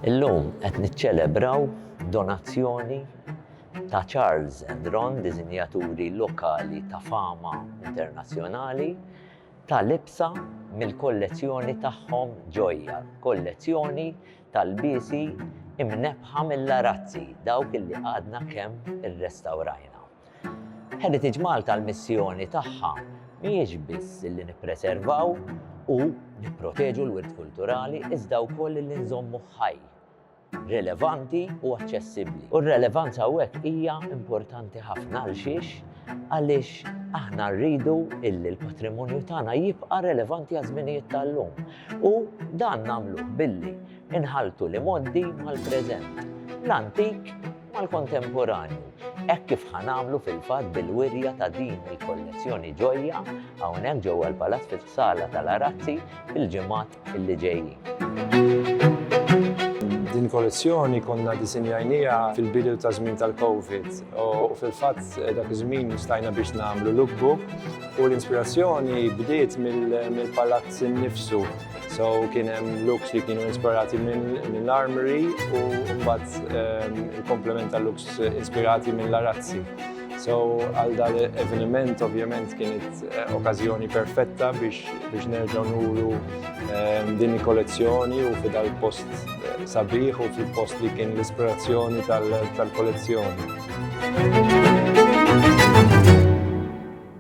Illum qed niċċelebraw donazzjoni ta' Charles and Ron, diżinjaturi lokali ta' fama internazzjonali, ta' libsa mill-kollezzjoni tagħhom Ġojja, kollezzjoni tal-biesi imnebħa mill-arazzi, dawk illi għadna kemm irrestawrajna. Heritage Malta l-missjoni tagħha mhijiex biss li nippreservaw u nipproteġu l-wirt kulturali iżda wkoll li nżommu ħaj, relevanti u aċċessibbli. U r-relevanza hawnhekk hija importanti ħafna għal xiex għaliex aħna rridu illi l-patrimonju tagħna jibqa' relevanti għaż-żminijiet tal-lum. U dan nagħmluh billi nħalltu l-imgħoddi mal-preżent, l-antik mal-kontemporanju, hekk kif ħa nagħmlu fil-fatt bil-wirja ta' din il-kollezzjoni ġojja hawnhekk ġewwa l-Palazz fis-Sala tal-Arazzi fil-ġimgħat li ġejjin. Din kollezzjoni konna disinjajnija fil-bidu ta' żmien tal-Covid u fil-fatt eh, dak iż-żmien stajna biex nagħmlu lookbook u l-inspirazzjoni bdiet mill-palazz innifsu. So kien hemm looks li kienu inspirati mill-armory u mbagħad ehm, il-komplement ta' looks inspirati mill-arazzi. So għal dal eveniment ovvjament kienet eh, okkażjoni perfetta biex biex nerġgħu nuru ehm, din il-kollezzjoni u fidal post eh, sabiħ u fil-post li kien l-ispirazzjoni tal-kollezzjoni.